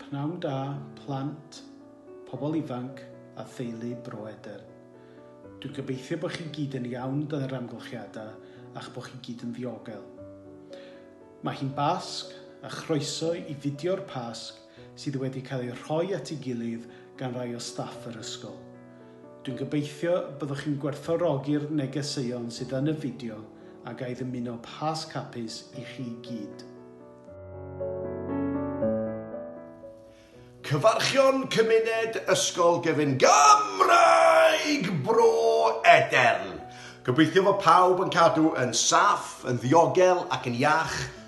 Pnawn da, plant, pobl ifanc a theulu Bro Edern. Dwi'n gobeithio bod chi gyd yn iawn dan yr amgylchiadau a'ch bod chi gyd yn ddiogel. Mae hi'n Basg a chroeso i fidio'r Pasg sydd wedi cael eu rhoi at ei gilydd gan rai o staff yr ysgol. Dwi'n gobeithio y byddwch chi'n gwerthfawrogi'r negeseuon sydd yn y fideo a ga i ddymuno Pasg hapus i chi gyd. Cyfarchion Cymuned Ysgol Gyfun Gymraeg Bro Edern! Gobeithio fod pawb yn cadw yn saff, yn ddiogel ac yn iach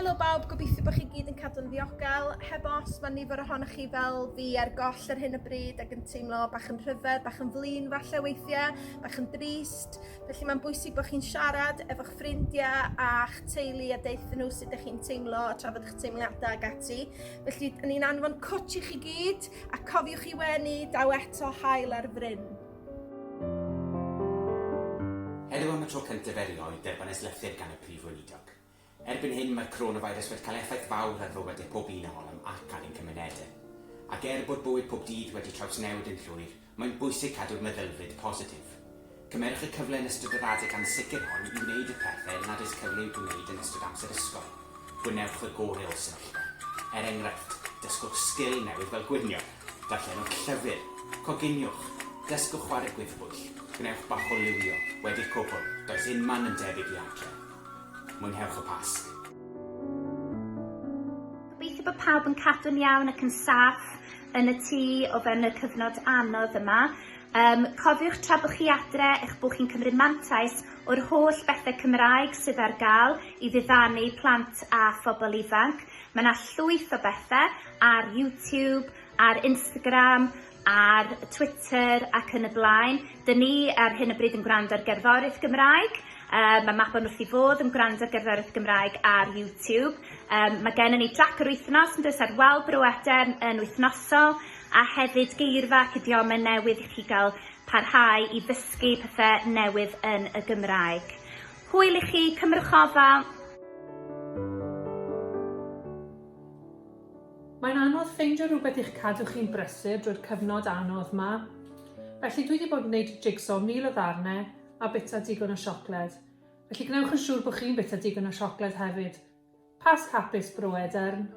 Helo bawb, gobeithio bod chi gyd yn cadw'n ddiogel. Heb os, mae nifer ohonoch chi fel fi ar goll ar hyn o bryd ac yn teimlo bach yn rhyfedd, bach yn flin falle weithiau, bach yn drist. Felly mae'n bwysig bod chi'n siarad efo'ch ffrindiau a'ch teulu a deuthyn nhw sut ydych chi'n teimlo a trafod eich teimladau ag ati. Felly, ni'n anfon cwtch i chi gyd a cofiwch i wenu daw eto hael ar fryn. Heddiw am y tro cyntaf erioed derbynnais lythyr gan y Prif Weinidog. Erbyn hyn, mae'r coronafeirws wedi cael effaith fawr ar fywydau pob un ohonom ac ar ein cymunedau. Ac er bod bywyd pob dydd wedi trawsnewid yn llwyr, mae'n bwysig cadw'r meddylfryd positif. Cymerwch y cyfle yn ystod yr adeg ansicr hon i wneud y pethau nad oes cyfle i'w gwneud yn ystod amser ysgol. Gwnewch y gorau o'r sefyllfa. Er enghraifft, dysgwch sgil newydd fel gwnïo! Darllenwch llyfr, coginiwch, dysgwch chwarae gwyddbwyll, gwnewch bach o liwio, wedi'r cwbl, does unman yn debyg i adre. Mwynhewch y Pasg. Gobeithio bod pawb yn cadw'n iawn ac yn saff yn y tŷ o fewn y cyfnod anodd yma. Um, cofiwch tra bod chi adre eich bod chi'n cymryd mantais o'r holl bethau Cymraeg sydd ar gael i ddiddanu plant a phobl ifanc. Mae yna llwyth o bethau ar YouTube, ar Instagram, ar Twitter ac yn y blaen. Dyn ni ar hyn o bryd yn gwrando ar gerddoriaeth Gymraeg. Um, mae Mabon wrth i fod yn gwrando ar gerddoriaeth Gymraeg ar YouTube. Um, mae gen ni drac yr wythnos yn dweud ar wal bro Edern yn wythnosol a hefyd geirfa ac idiomau newydd i chi gael parhau i ddysgu pethau newydd yn y Gymraeg. Hwyl i chi, cymrwch ofal! Mae'n anodd ffeindio rhywbeth i'ch cadw chi'n brysur drwy'r cyfnod anodd 'ma. Felly dwi 'di bod yn gwneud jigsaw mil o ddarne a bita digon o siocled. Felly gwnewch yn siŵr bod chi'n bita digon o siocled hefyd. Pasg hapus, Bro Edern!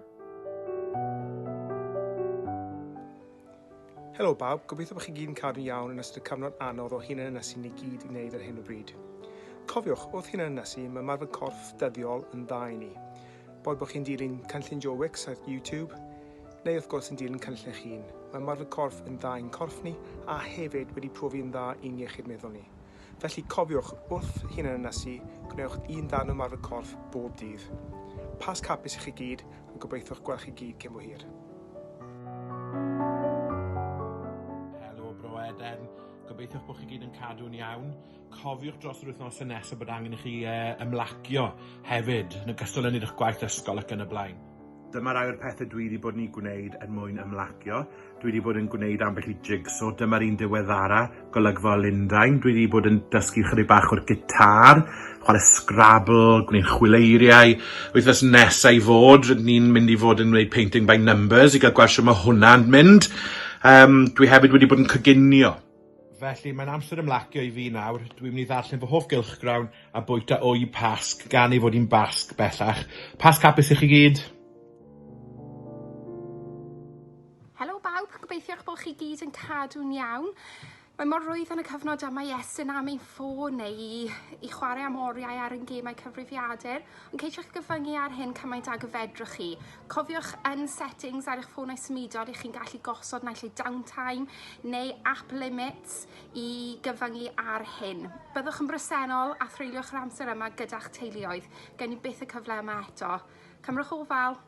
Helo bawb, gobeithio bod chi gyd yn cadw'n iawn yn ystod y cyfnod anodd o hunanynysu ni gyd i wneud ar hyn o bryd. Cofiwch, wrth hunanynysu, mae ymarfer corff dyddiol yn dda i ni. Boed bod chi'n dilyn cynllun Joe Wicks ar YouTube, neu wrth gwrs yn dilyn cynllun eich hun, mae ymarfer corff yn dda i'n corff ni a hefyd wedi profi yn dda i'n iechyd meddwl ni. Felly cofiwch, wrth hunanynysu, gwnewch un darn o ymarfer corff bob dydd. Pasg hapus i chi gyd a gobeithiwch gweld chi gyd cyn bo hir. Helo Bro Eden, gobeithiwch bod chi gyd yn cadw'n iawn. Cofiwch dros yr wythnosau nesaf bod angen i chi e, ymlacio hefyd, yn ogystal â wneud eich gwaith ysgol ac yn y blaen. Dyma rai o'r pethau dwi wedi bod yn ei gwneud er mwyn ymlacio. Dwi wedi bod yn gwneud ambell i jigsaw. Dyma'r un diweddara, golygfa o Lundain. Dwi wedi bod yn dysgu chydig bach o'r gitar, chwarae Scrabble, gwneud chwileiriau. Wythnos nesaf i fod, rydyn ni'n mynd i fod yn gwneud painting by numbers i gael gweld sut mae hwnna'n mynd. Um, dwi hefyd wedi bod yn coginio. Felly, mae'n amser ymlacio i fi nawr. Dwi'n mynd i ddarllen fy hoff gylchgrawn a bwyta wy Pasg, gan ei fod hi'n Basg bellach. Pasg hapus i chi gyd! Helo bawb, gobeithio eich bod chi gyd yn cadw'n iawn. Mae mor rwydd yn y cyfnod yma i estyn am ein ffôn neu i, i chwarae am oriau ar ein gemau cyfrifiadur. Ond ceisiwch gyfyngu ar hyn cymaint ag y fedrwch chi. Cofiwch yn settings ar eich ffônau symudol i chi'n gallu gosod naill ei downtime neu app limits i gyfyngu ar hyn. Byddwch yn bresennol a threulioch yr amser yma gyda'ch teuluoedd. Gen i byth y cyfle yma eto. Cymrwch ofal!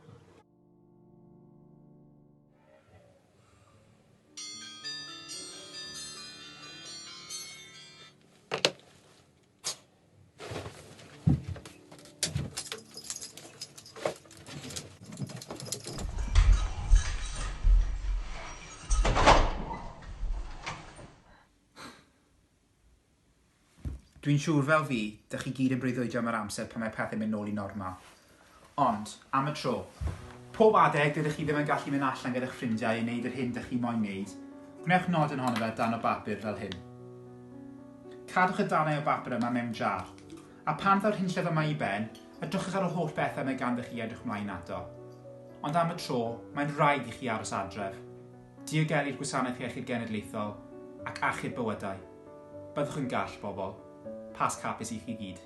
Dwi'n siŵr fel fi, dych chi gyd yn breuddwydio am yr amser pan mae pethau'n mynd nôl i normal. Ond, am y tro, pob adeg dydych chi ddim yn gallu mynd allan gyda'ch ffrindiau i wneud yr hyn dych chi moyn wneud, gwnewch nodyn ohono fe dan o bapur fel hyn. Cadwch y darnau o bapur yma mewn jar, a phan ddaw'r hunllef yma i ben, edrychwch ar yr holl bethau mae ganddoch chi edrych mlaen ato. Ond am y tro, mae'n rhaid i chi aros adref, diogelu'r Gwasanaeth Iechyd Genedlaethol, ac achub bywydau. Byddwch yn gall, bobl. Pasg hapus i chi gyd.